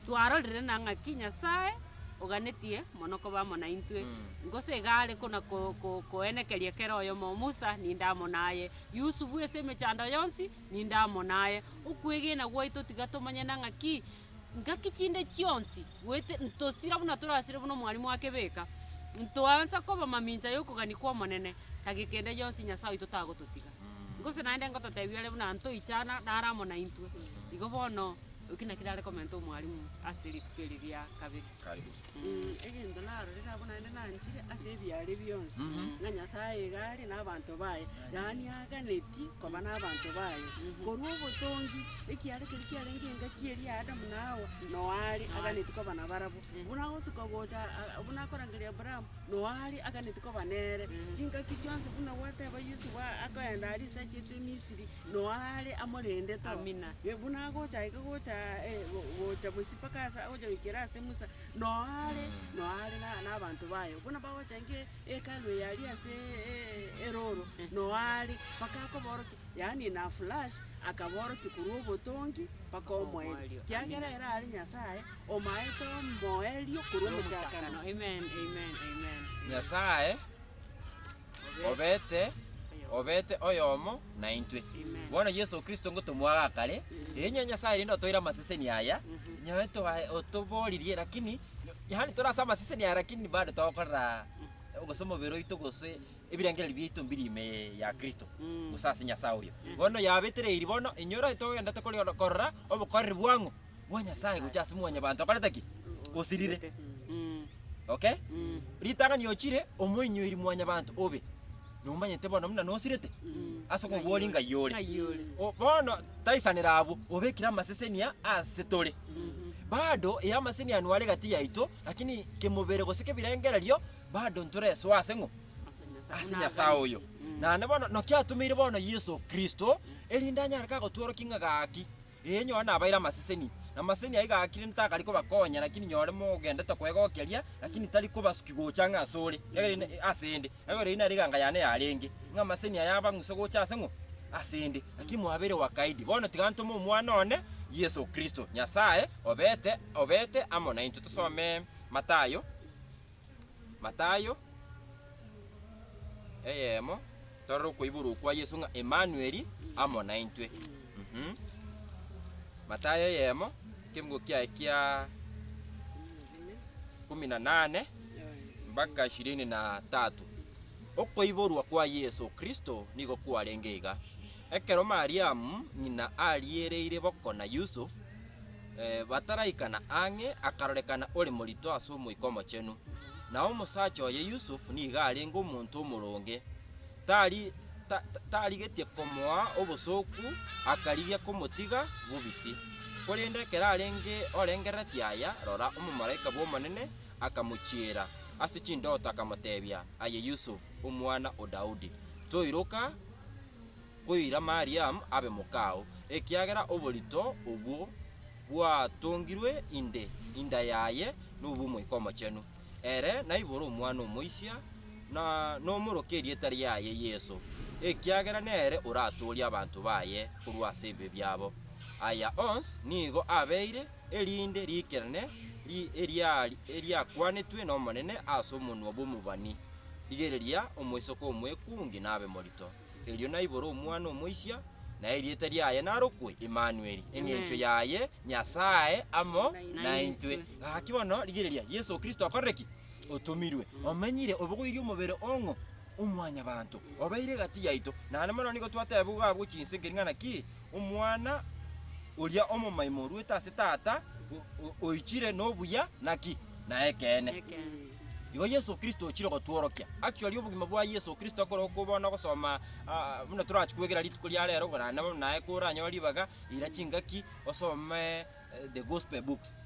twarorire na ng'aki Nyasae oganetie mono koba amo naintwe. Mm. Gose iga are kona ko- ko- koenekeria kera oyomo, Musa ninde amo naye, Yusufu ase emechando yonsi Ninde amo naye. Okwegena gwaito tiga tomanye na ng'aki, ngaki chinde chionsi, goet- ntosira buna torasire buna omwalimu ake beka, ntoansa koba mamincha y'okogania kw'Omonene, tagi kende gionsi Nyasae oito tagototiga. Gose naende ngototebia ore buna ntoichana nare amo naintwe. Igo bono, eki nakio are komenta omwalimu ase rituko eri ria kabere. egento narorire abwo naende nanchire ase ebiaare bionsi, ng'a Nyasae iga are nabaanto baye, yaani aganeti koba nabaanto baye. Korwa obotongi, ekiaare keria kiarenge engaki eria ya Adamu na Hawa, Noa are aganeti koba nabarabwo. Buna agosuka gocha aa- buna akorangeria Abrahamu, Noa are aganeti koba nere. Chingaki chionsi buna gwateba Yusufu a- akoenda aria ase achiete Misiri, Noa are amorendete oo. Amina. Buna agocha iga gocha aa, eh, go- gocha bosio. mpaka ase agocha goikera ase Musa, noyo are, noyo are na- nabanto baye. Bono bagocha ng'a e- Hekalu eye aria ase e- erooro, noyo are, mpaka akobaorokia, yaani na flash, akabaorokia korwa obotongi mpaka omoerio, omoerio, kiagera amen. ere are Nyasaye omaete omoerio korwa omochakano. Omochakano, amen, amen, amen, amen. Nyasaye. obete, obete oyomo naintwe. Bono Yeso Kristo ngotomwa gaa kare, enywe Nyasae rende otoire amaseseni aya, nyaye toae otoboririe, lakini yaani tore ase amaseseni aya lakini bado togokorera gose omobere oito gose ebirengererio biaito mbiri ime ya Kristo, gose ase Nyasae oyo. Bono yabetereirie bono, inyora togenderete kori korora obokoreri bwang'u, bwa Nyasae gochia ase mwanyabanto okorete ki? Osirire. Okay? Ritang'ani ochire omoinyuiri mwanyabanto obe. Nomanyete bono buna nosirete ase okobori ng'ai ore. O- Bono taisanera abwo, obekire amasesenia ase tore. Bado eye amasesenia ano are gati yaito, lakini kemobere gose kebirengererio bado ntoresoa ase ng'o? ase Nyasae oyo. Naende bono naki atomeire bono Yeso Kristo, erinde anyare kagotworokia ng'a gaki. Ee, nyora nabaire amaseseni, na amaseseni ayio igakire ntakari kobakonya, lakini nyore mogendete kwegokeria, lakini tari kobasuki gocha ng'a asore, ekeagera ase 'nde, ekeagera eyio nere eganga yane yarenge, ng'a amaseseni aya abang'use gocha ase ng'o? Ase 'nde. Lakini mwabeire wakaidi. Bono tiga ntome Omwana one, Yeso Kristo, Nyasae obete, obete amo naintwe. Tosome Mathayo. Matayo eyemo torore okoiborwa okwa Yeso ng'a Emanueli amo naintwe. Mhm. Matayo eyemo ekemugo kiaye kia kumi na nane mpaka ishirini na tatu. Okoiborwa kwa Yeso Kristo nigo kwarenge iga. Ekero Mariamu ng'ina ariereire boko na Yusuf, bataraikana ang'e, akarorekana ore morito ase Omoika Omochenu. Na omosacha oye Yusufu nigo arenge omonto omoronge, tari, ta- ta- tarigetie komoa obosooku, akarigia komotiga bobisi. Korende ekero arenge orengerereti aya, rora, omomalaika bw'Omonene akamochiera ase chindoto, akamoteebia, Aye Yusufu, omwana o Daudi, toiroka, Koira Mariamu abe mokao, ekiagera oborito obwo bwatongirwe inde inda yaye nobw'Omoika Omochenu. Ere naibore omwana omoisia, na nomoroke erieta riaye Yeso, ekiagera nere oratoorie abanto baye korwa ase ebibe biabo. Aya onsi nigo abeire erinde riikerene eriakwanetwe n'Omonene ase omonwa bw'omobani, Rigereria, omoiseke omwekungi nabe morito. Erio naibore omwana omoisia, na erieta riaye narokwe Emanueli, eng'encho yaye Nyasae amo naintwe. Gaki bono rigereria, Yeso Kristo akorire ki? Otomirwe, omenyire, obogoirie omobere ong'o? Omwanyabanto, obeire egati yaito. Naende mono nigo twatebigwa gabwo chinse nkering'ana ki? Omwana oria omomaima orwete ase Tata, o- o- oichire nobuya, naki? Naye ekeene. Igo Yeso Kristo ochire gotworokia. Actually obogima bwa Yeso Kristo ekero okobona ogosoma ah, buna torachi kwegera rituko ria rero ogorana nabo naye koranyore ribaga eira chingaki osome eh, the gospel books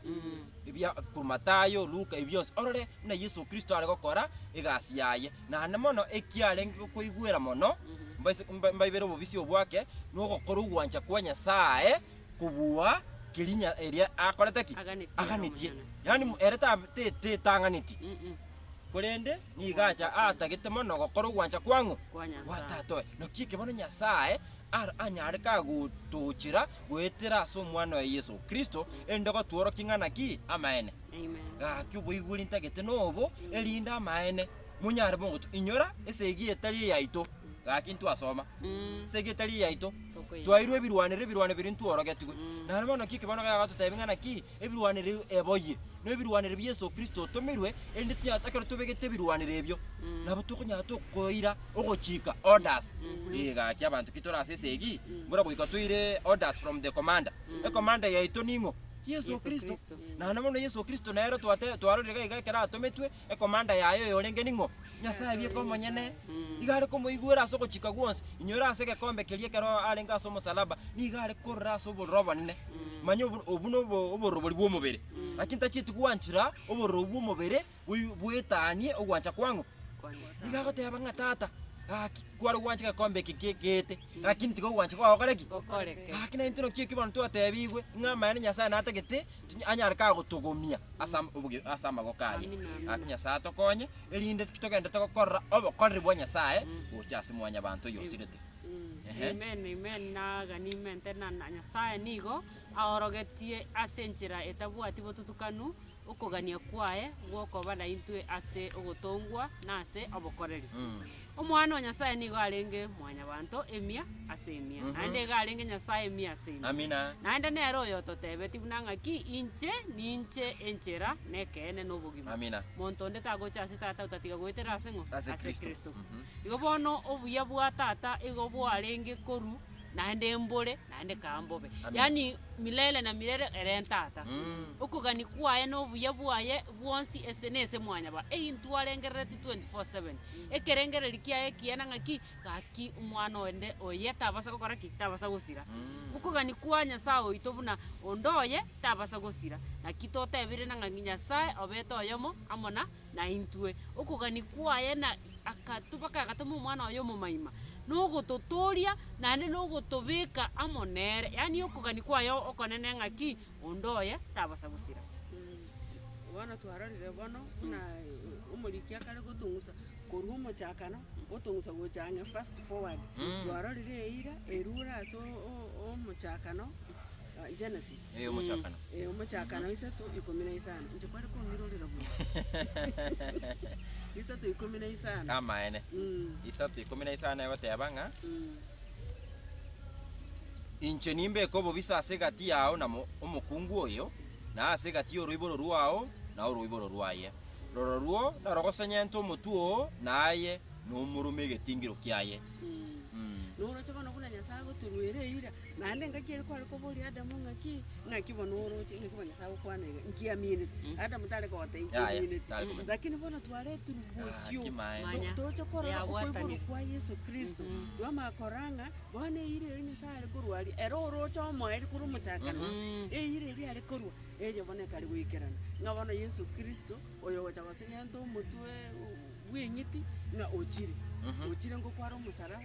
ebia korwa Matayo, Luka ebi bionsi orore buna Yeso Kristo are gokora egasi yaye. Naende mono ekiarenge gokoigwera mono mbaise mba- mbaibere obobisi obwake nogokora ogwancha kwa Nyasaye kobua kerinya eria akorete ki? Aganetie ere Aganetie. omonyene. Yaani Mm. ere ta- te- te- tang'aneti. Mm-mm. Korende nigo acha Gwancha. atagete mono gokora ogwancha kwang'o? Kwa Nyasae. Gwa Tata oye. Naki eke bono Nyasae ar- anyare kagotochera goetera ase Omwana oye Yeso Kristo, erinde gotworokia ng'a naki amaene. Amen. Gaki oboigweri ntagete nobo, erinde amaene monyare bogocha. Inyora esegi etari eyaito. gaki ntwasoma. Ase erieta riaito twaeirwe ebirwanero, ebirwanero biria ntworogetigwe. Naende bono naki ekebarwa kaiga gototebia ng'a naki ebirwanero ebi eboyie, na ebirwanero bi Yeso Kristo otomirwe, erinde tonyare ekero tobegete ebirwanero ebio, nabo tokonyara tokoira ogochika, orders. Ee gaki abanto ki tore ase esegi, buna goika toire orders from the commander. Ecommander yaito ning'o? Yeso Kristo. Naende bono Yeso Kristo nere twate twarorire gaiga ekero atometwe, ekomanda yaye oyorenge ning'o? Nyasae bweka omonyene, iga are komoigwera ase ogochika gwonsi. Inyore ase egekombe keria ekero arenge ase omosalaba, nigo are korora ase obororo obonene. Manya obo, obwo nobo- obororobori bw'omobere. Lakini tachieti gwanchera obororo bw'omobere boi- bwetanie ogwancha kwang'o? Nigo agoteba ng'a Tata, gaki, kware gwancha egekombe eke gie- geete, lakini tiga ogwancha kwao gokore ki? Gokoreke. Gaki naintwe naki ekio bono twatebigwe, ng'a amaene Nyasae natagete, Tinyare kagotogomia ase am- oboge- ase amagoko aye. Amina, amina. Gaki Nyasae atokonye, erinde togende togokorera obokoreri bwa Nyasae gocha ase mwanyabanto oyo osirete. Mm, Ehe. Amen, amen, nagani amen tena na Nyasae nigo aorogetie ase enchera etabwati botutukanu okogania kwaye gwokoba naintwe ase ogotongwa na ase obokoreri. Mm. Omwana o Nyasae nigo arenge Mwanyabaanto emia ase emia, naende iga arenge Nyasae emia ase emia. Amina. Naende nere oyototebetie buna ng'aki, Inche ninche enchera, na ekeene, na obogima. Amina. Monto onde tagocha ase Tata otatiga goetera ase ng'o? Ase Kristo. Mhm. Igo bono obuya bwa Tata igo bwarenge korwa naende mbore naende kaa mbobe. Amina. Yaani milele na milele ere Tata. Mm. Okogania kwaye na obuya bwaye bwonsi ese nese mwanyaba, eintwe arengerereti 24 7. Ekerengererio kiaye ekiana ng'aki? Gaki omwana onde oye tabasa gokora ki? Tabasa gosira. Okogania kwa Nyasae oito buna onde oye tabasa gosira. Naki totebire na ng'a Nyasae obete oyomo amo na naintwe. Okogania kwaye na agatobaka agatoma omwana oye omomaima, nogototooria naende nogotobeka amo nere. Yaani okogania kwaye okonene ng'aki? onde oye tabasa gosira. Bono twarorire bono buna omoriki akare gotong'usa korwa omochakano gotong'usa gocha ang'e fast forward. Twarorire eira erure ase o- o- omochakano, Genesis. Eh, omochakano. Eh, omochakano isato ikomi na isano. Inche kware komirorera buna. Isato ikomi na isano. Amaene. Mm, Isato ikomi na isano egoteba ng'a mm. Inche nimbeke obobisa ase egati yao na omokungu oyo, na ase egati y'oroiboro rwao na oroiboro rwaye. Rororwo narogosenyente omotwe oo na aye, na omorome egetingiro kiaye. Noroche bono buna Nyasae agotoruera eira, naende engaki ere kware koboria Adamu ng'aki? Naki bono oroche, naki bono Nyasae agokwana iga, nkiaminete. Adamu tare kogoteba, Yaya, nkiaminete. tare komanya. Lakini bono twaretirwe bosio, Naki maene. to- Manya, toche korora okoiborwa yagwatanire. kwa Yeso Kristo. Twamanya korora ng'a, bono eira eria Nyasae are korwa aria, ere oroche omoerio korwa omochakano, Mm. eira eria are korwa, erio bono ekare goikerana. Ng'a bono Yeso Kristo, oyo ogocha gosegenta omotwe bw'eng'iti, ng'a ochire. Mhm. Ochire ngokwo are omosaraba.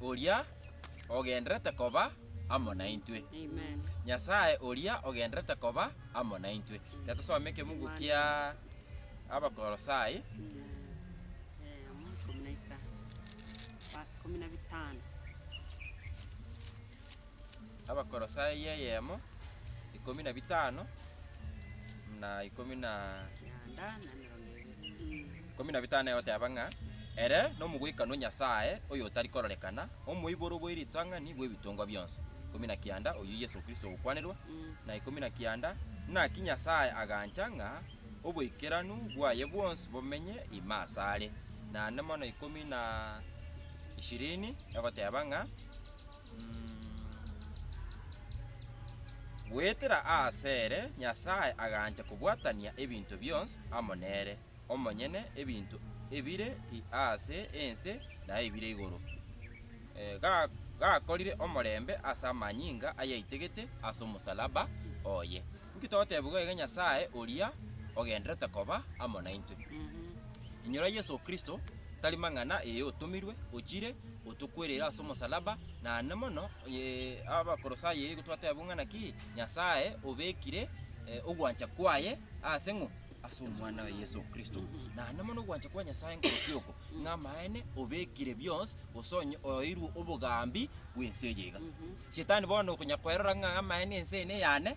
oria ogenderete koba amo naintwe. Amen. Nyasae oria ogenderete koba amo naintwe. Reka tosome ekebugu kia Abakolosai. Eh, omo ikomi na isa. Ba- ikomi na bitano. abakorosai eyemo, ikomi na bitano, na ikomi na ikomi na bitano egoteba ng'a ere nomogoikanwa o Nyasae oyotari kororekana, omoiboro bwe ritang'ani bw'ebitongwa bionsi. Ikomi na kianda, oyio Yeso Kristo ogokwanerwa, na ikomi na kianda, naki Nyasae agancha ng'a oboikeranu bwaye bwonsi bomenye ime asare. Naende mono ikomi na ishirini egoteba ng'a. Goetera asere Nyasae agancha kobwatania ebinto bionsi amo nere omonyene, ebinto ebire aase ense na ebire igoro. Gakorire omorembe ase amanyinga ayaitegete ase omosalaba oye. Inki togotebigwa iga Nyasae oria ogendererete koba amo naintwe? Inyora Yeso Kristo tari mang'ana ee otomirwe, ochire, otokwerere ase omosalaba, naende mono onye Abakolosai eyio twateeba buna naki, Nyasae obekire ogwancha kwaye ase ng'o? Ase Omwana oye Yeso Kristo. Naende mono ogwancha kwa Nyasae nkorokio oko, ng'a amaene obekire bionsi gose onye oeirwe obogambi bw'ense eye iga. Shetani bono okonyara kwerora ng'a amaene ense eye neyane,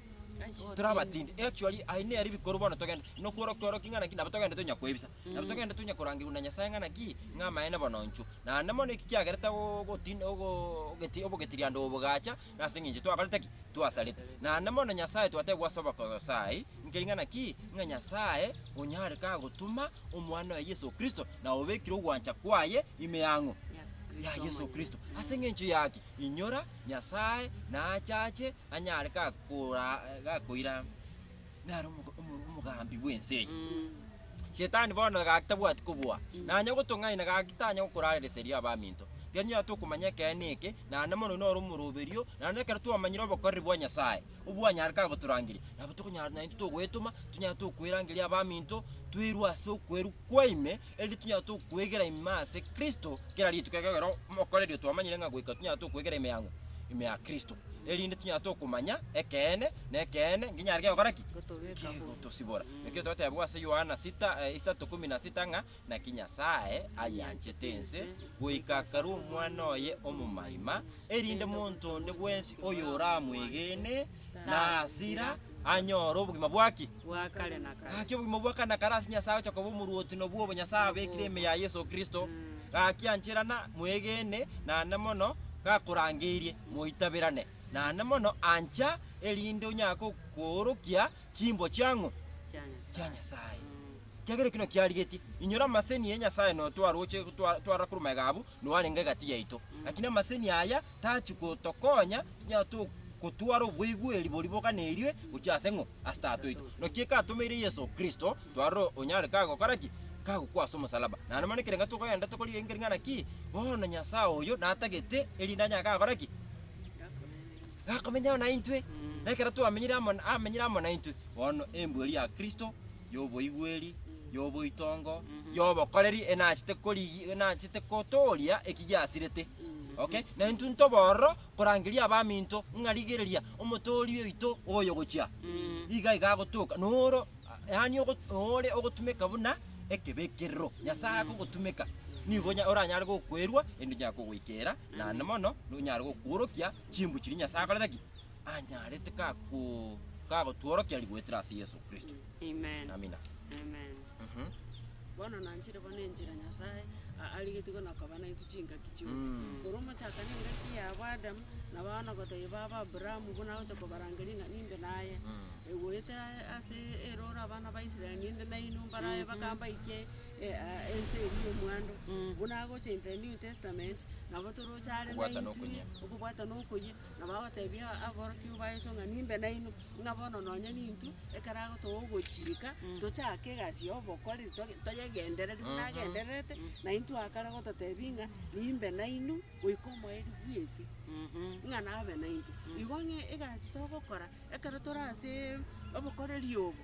tore abatindi actually aye nere bikoro bono togende nokworo kworo ki ng'ana ki nabo togende tonya kwebisa nabo togende tonya korangerwa na Nyasaye ng'ana ki ng'a amaene bononchwo naende mono eki kiagerete go- gotin- ogo- ogeti- obogetirianda obo bogacha nase eng'encho twakorete ki twasarete naende mono Nyasaye twatebwa ase obokoyo saii nkeri ng'ana ki ng'a Nyasaye onyare kagotoma omwana oye Yeso Kristo na obekire ogwancha kwaye ime yang'o ya Yeso Kristo ase eng'encho yaki inyora Nyasaye nachache. anyare gakora- gakoira naro omoga- omo- omogambi bw'ense eye. Shetani bono egaki tabwati kobua, nanye ogotong'aina gaki tanye gokorareseria abaminto. Tiga nyora tokomanya ekeene eke, naende mono noro omoroberio, naende ekero twamanyire obokoreri bwa Nyasae, obwo anyare kagotorangeria, nabo tokonyara naintwe togoetoma, tonyare tokoerangeria abaminto, toirwe ase okwerwa kwaime, erinde tonyare tokwegera ime ase Kristo kera rituko ekero mokorerio twamanyire ng'a goika tonyare tokwegera ime yang'o? Ime ya Kristo. Erinde tonyare tokomanya ekeene, na ekeene nkenyare kegokora ki? Gotobeka huru. Kegotosibora. Ekio twatebwa ase Yohana sita, eh, isato kumi na sita ng'a, naki Nyasae ayanchete ense goika akarua omwana oye omomaima, erinde monto onde bwensi oyoramwegene Nasira anyore obogima bwa ki? Gaki obogima obwa kare na kare ase Nyasae ogocha koba omorwoti nobwo obo Nyasae abekire ime ya Yeso Kristo. Gaki ancherana mwegene naende mono gakorangeirie moitabirane naende mono ancha erinde onyare koorokia chimbo chia ng'o? Chia Nyasae. Kiagera ekio nakio arigetie. Inyora amaseni ye Nyasae notwaroche twa- twarora korwa magega abwo, nwarenge egati yaito. Lakini amaseni aya Tachi gotokonya onye togotwara oboigweri boria boganeirie gochia ase ng'o? Ase Tata oito. Naki ekatomeire Yeso Kristo, twarore onyare kagokora ki? Kagokwa ase omosalaba. Naende mani ekerengo tokoenda tokori engering'ana ki? Bono Nyasae oyo natagete erinde anyaga gakore ki? Gakomenya amo naintwe. Nekero twamenyire amo, amenyire amo naintwe. Bono embweri ya Kristo. y'oboigweri, y'oboitongo, y'obokoreri, enachete korigi, enachete kotooria eki giasirete. Okay? Na intwe ntobororo korangeria abaminto ng'a rigereria omotooria oito oyo gochia. Iga iga agotoka. Noro yaani ogo- ore ogotumeka buna ekebekerero. Nyasae akogotumeka. Nigo onya- oranyare gokwerwa ende onyare kogoikera naende mono nonyare gokworokia chimbu chiria Nyasae akorete ki? anyarete kagotworokia rigwetire ase Yeso Kristo. Amina. Bono nanchire bono enchera Nyasae arigetie gono koba naintwe chingaki chionsi, korwa omochakano engaki yabo Adamu, na bono goteebia babo Abrahamu buna agocha kobarangeria ng'a nimbe naye. Goetera ase erooro abana ba Israel ninde nainwe mbarabe mpaka mbaikie ense eria y'omwando, buna agocha in the New Testament, nabo toroche are naintwe, okobwatana okoyia. na bagotebia aborokigwa ba Yeso ng'a nimbe nainwe, ng'a bono nonye nintwe, ekero agotoa ogochika, tochake egasi y'obokori, toge- toyegendereri buna agendererete, na intwe akare gototebia ng'a nimbe nainwe goika omoerio bw'isi, ng'a nabe naintwe. Igo ng'a egasi togokora ekero tore ase obokoreri obo.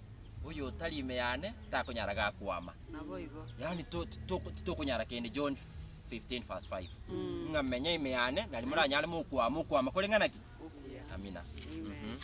oyotari ime yane takonyara gakwama. Naboigo. Yani to- to- titokonyara kende John 15 verse 5 Mm. ng'a menya ime yane nari moranyare mokwama okwama kore ng'a naki Okuya. amina Amen.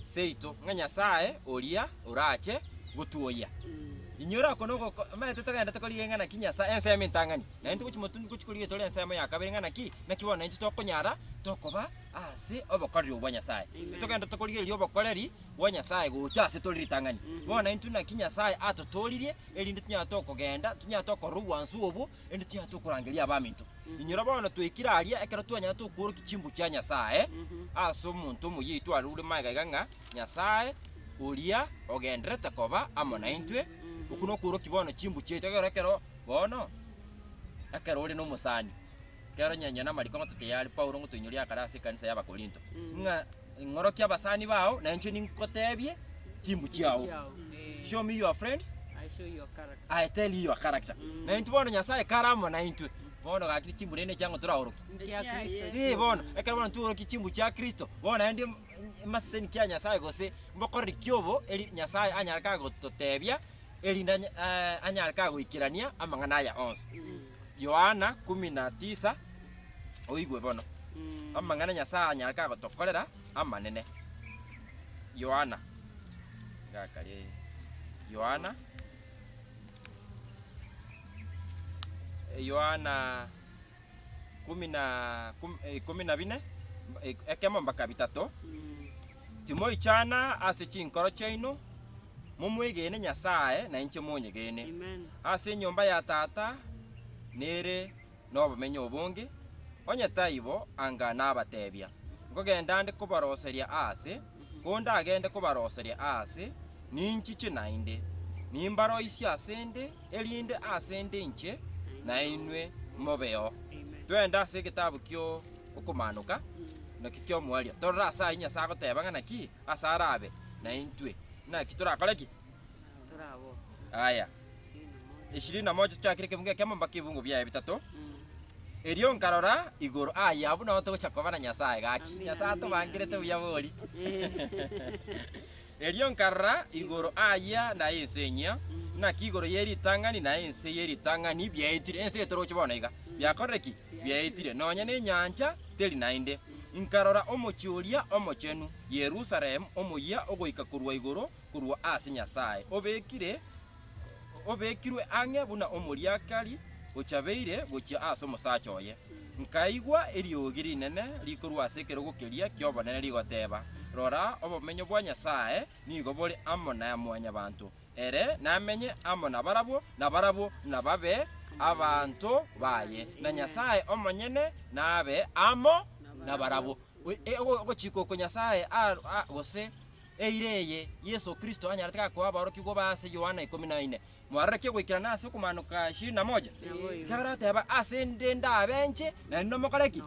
seito ng'a nyasaye oria orache gotwoyia Mm. inyora ako noko omanyete togenda tokoriga ng'a naki nyasaye ensemo entang'ani naende togochi motundu gochi koriga etore ensemo ya kabere ng'a naki naki bono naintwe tokonyara tokoba ase obokoreri obwa nyasaye Amen. togenda tokorigereria obokoreri bwa Nyasae gocha ase tore ritang'ani. Mhm. Bono intwe naki Nyasae atotooririe, erinde tonyare tokogenda, tonyare tokorora obwansu obwo, erinde tonyare tokorangeria abaminto. Mhm. Inyora bono twaikire aria, ekero twanyare tokworokia chimbu chia Nyasae Mhm. ase omonto omoyeitu are ore magega iga ng'a Nyasae oria ogendererete koba amo naintwe, Mhm. okwo nokworokia bono chimbu chiaito ekero ekero bono ekero ore nomosani. Ekero onye onye namariko ng'o toteyaare Paulo ng'o toinyoria akare ase ekanisa y'Abakorinto, Mhm. ng'a Ing'orokia abasani bao, na inche ningoteebie chimbu chiao. Show me your friends, I show you your character. I tell you your character. Mm. Na intu bono Nyasae kare amo na intwe. Bono gaki chimbu rende chiango toraoroki. Chia Kristo. Eh bono, ekero bono tuoroki chimbu chia Kristo, bono endi maseseni kia Nyasae gose mbokoreri kiobo eri Nyasae anyare ka gototeebia erinde anya- eh, anyare ka goikerania amang'ana aya onsi. Yohana kumi na tisa oigwe bono amang'ana Nyasae anyare kagotokorera amanene. Yohana ngakaria eye. Yohana Yohana kumi na kum- eh, ikumi na bine mb- ik- ekemo mpaka bitato timoichana ase chinkoro chiaino momwegene Nyasae na inche monyegene Amen. ase enyomba ya tata nere nobomenyo obonge, onye taibo anga nabatebia, Nkogenda ande kobaroseria aase, kondagende kobaroseria aase, ninchiche naende, nimbaroisie asende, erinde asende inche nainwe mobeo. Twende ase egetabu kio Okomaanoka, naki ki'omoerio, torore ase ayio Nyasae agoteba ng'a naki ase arabe naintwe. Naki torakore ki? Aya. ishirini na moja chiakire ekebungo ekiamo mpaka ebibungo biaye bitato. Erio nkarora igoro aye abwo nao togocha koba na Nyasaye gaki. Amina, Nyasaye amina. atobangerete buya bori. Erio nkarora igoro aya na ense enyia, naki igoro ye ritang'ani na ense ye ritang'ani biaetire. Ense etoroche bono iga. Biakorire ki? Biaetire. Nonya nenyancha teri naende. Nkarora omochie oria omochenu, Yerusalemu, omoyia ogoika korwa igoro korwa ase Nyasae, obekire, obekirwe ang'e buna omoriakari ochabeire gochia ase omosacha oye. Nkaigwa eriogi rinene rikorwa ase ekerogo keria ki'obonene rigoteba, Rora, obomenyo bwa Nyasae nigo bore amo na Mwanyabaanto, ere namenye amo nabarabwo, na barabwo nababe abanto baye, na Nyasae omonyene nabe amo nabarabwo. Ogochika oko Nyasae, gose eira eye Yeso Kristo anyarete gakoa aborokigwa baye ase Yohana ikomi na ine. Mwaroreke goikerana ase okomaanoka ishirini na moja, ekiagera ateba, Ase inde ndabenche, na inwe mokore ki?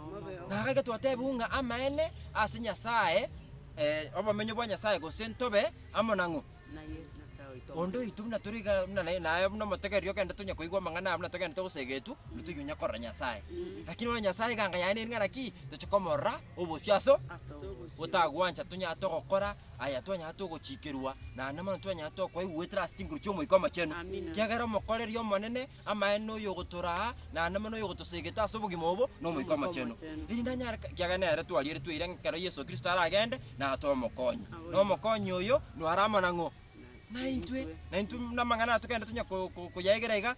Na gaki twatebiwu ng'a amaene ase Nyasae, eh, obomenyo bwa Nyasae, gose ntobe amo nang'o? Onde oito buna tore iga buna naye, naye buna omotegereria ogende tonya koigwa amang'ana aya buna togenderete gosegetwa, ntoiyo onya korora Nyasae. Lakini ore Nyasae eganga yaye neri ng'a naki toche komorora, Obosio ase gotagwancha tonyare togokora aya twanyare togochikerwa naende mono twanyare tokoigwetera ase chinguru chi'Omoika Omochenu. Kiagera omokoreria Omonene amaene noyo ogotoraa naende mono noyo ogotosegete ase obogima obo n'Omoika Omochenu. Erinde anyare kiagera nere twarieretwe ira ng'a ekero Yeso Kristo aragende natoe omokonyi. Na omokonyi oyo naro amanang'o? Naintwe. Naintwe namang'ana aya tokende tonya koyaegera iga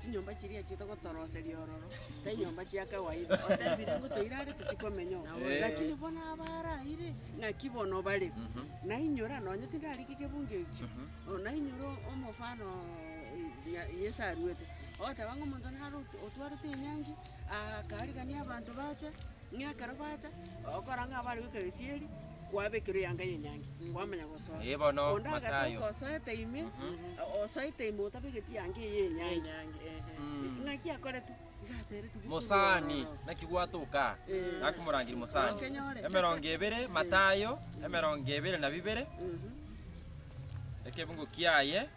chinyomba chiria chiaito gotoroseria ororo, tinyomba chia kawaida. Otebire ng'a toira are tochie komenya oo. Naboigo. Lakini bono abaraire, ng'aki bono bare. Nainyora, nonye tindarika egebunga ekio, oo nainyora o- omofano oo nya- Yeso aruete, ogoteba ng'a omonto naro ot- otwarete enyangi, akarigania abanto bacha. Ng'a ekero bacha gokora ng'a bare goika gesieri, kwabekirwe eyanga y'enyangi, kwamanya gosoa. Ee bono, Onde agati Matayo. okosoete ime, osoete ime otabegeti eyanga eye y'enyangi. Mm. Ng'aki akoretwe? Iga aseretwe bokong'u Mosani, ororo. naki gwatoka? Eh. Naki morangiri mosani. Okenyore. Emerongo ebere, Matayo, emerongo ebere na bibere, Mhm. ekebungo kiaye.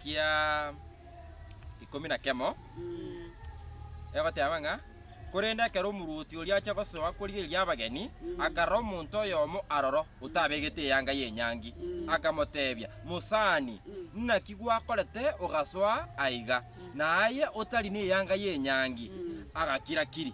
kia ikomi na kemo, egoteeba ng'a, Korende ekero omorwoti oria achia gosoa korigereria abageni, akarora omonto oyomo aroro otabegete eyanga y'enyangi, akamoteebia, Mosani, naki gwakorete ogasoa aiga, na aye otari neyanga y'enyangi? Agakira-kiri.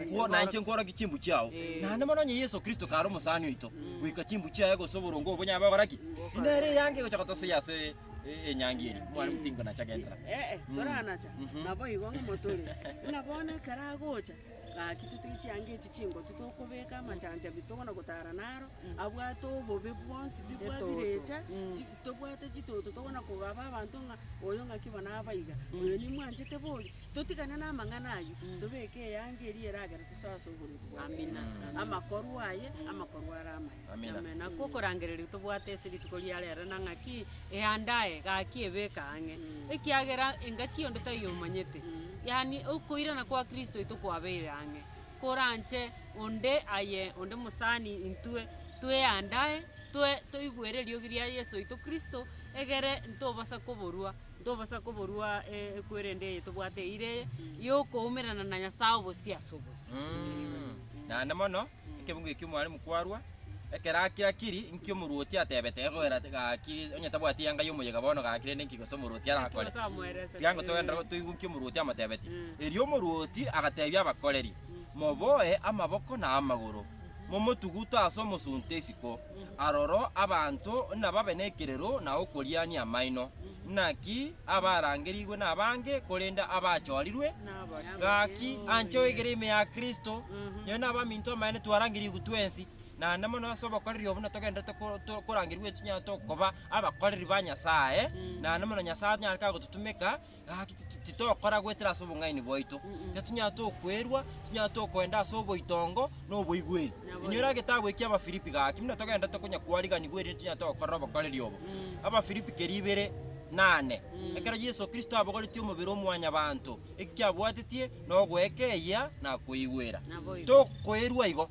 Agwo nainche nkworokia chimbu chiao. Naende mono onye Yeso Kristo kare omosani oito, goika chimbu chiaye gose oboronge obo bonyabe gokora ki? Nere eanga egocha gotosoyia ase enyangi eri. Omwana omuya tinkonacha genderera. Ee, toranacha, naboigo ng'omotore. Ng'a bono ekero agocha, gaki totige chianga echi chingotu tokobeka amachancha bi tokona gotara naro, abwate obobe bwonsi bi bwabirecha, ti tobwate chitoto tokona kogaba abanto ng'a oyo ng'aki bono abaiga, oyo nimwanchete bori. Totigane namang'ana ayio, tobeke eanga eria eragera tosoe ase oboruoti bwa Kristo, amakorwa aye, amakorwa are amaya. Nakwo okorangereria tobwate ase rituko ria rero na ng'aki eandae, gaki ebeke ang'e, ekiagera engaki onde taiyo omanyete, yaani okoirana kwa Kristo oito kwabeire ang'e, koranche onde aye onde mosani intwe tweandae, toe toigwere eriogi ria Yeso oito Kristo, egere ntobasa koborua. Tobosa koborua ekwerende eye tobwate eira eye y'okoumerana na Nyasae obosio ase obosio. Naende mono ekebungo ekio omwalimu kwarua, ekero akiakiri, inki omorwoti atebete? Gekoera gaki, onye tabwati eanga y'omoyega bono gaki, rende inki gose omorwoti arakore? Nyasae amoerese. Tiga ingo togenderere toigwe inki omorwoti amotebeti. Erio omorwoti agatebia abakoreri, Moboe amaboko na amagoro, momotugute ase omosunte isiko. aroro abanto nababe nekerero na okoriania amaino. Naki abarangerigwe nabange, korende abachorirwe gaki. Anche oegere ime ya Kristo, nere nabaminto amaene twarangerigwe twensi, naende mono ase obokoreri obo natogenderete korangerigwe ng'a tokoba abakoreri ba Nyasae, naende mono Nyasae onye are kagototumeka, Gaki titokora goetera ase obong'aini bwaito, tatinyara tokwerua, tinyara tokoenda ase oboitongo na oboigweri. Inyora egetabu ekia Abafilipi gaki, buna togenda tokonya kwariganiwa erinde tinyara togokora obokoreri obo. Abafilipi keria ibere na ane. Ekero Yeso Kristo abogoretie omobere o mwanyabanto, eki kiabwatetie nogoeka eyia na koigwera. Tokoerua igo.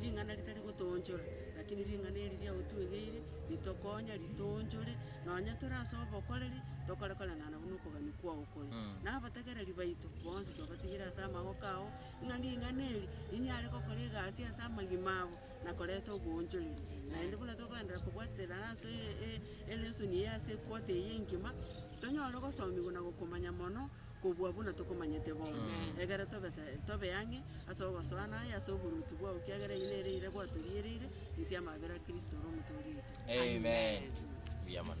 Ring'ana ritari gotoonchora, lakini ring'ana eri ria otwegeire ritokonya ritoonchore, nonya tore ase obokoreri, tokore koreng'ana buna okogania kwao kore. Na abategereri baito bonsi twabatigire ase amaboko ao, ng'a ring'ana eri rinyare gokora egasi ase amagima abo, na korenta oboonchoreri. Naende buna tokogenderera kobwaterana ase e- e- elesson eye ase equota eye engima, tonyore gosomigwa na gokomanya mono Kobua buna tokomanyete bono, egere tobe tobe ang'e ase ogosoa na aye ase oboruoti bwao, ekiagera eyio nere ere gwatoriereire inse y'amabera a Kristo ore omotooria oito. Amen. Mbuya mono.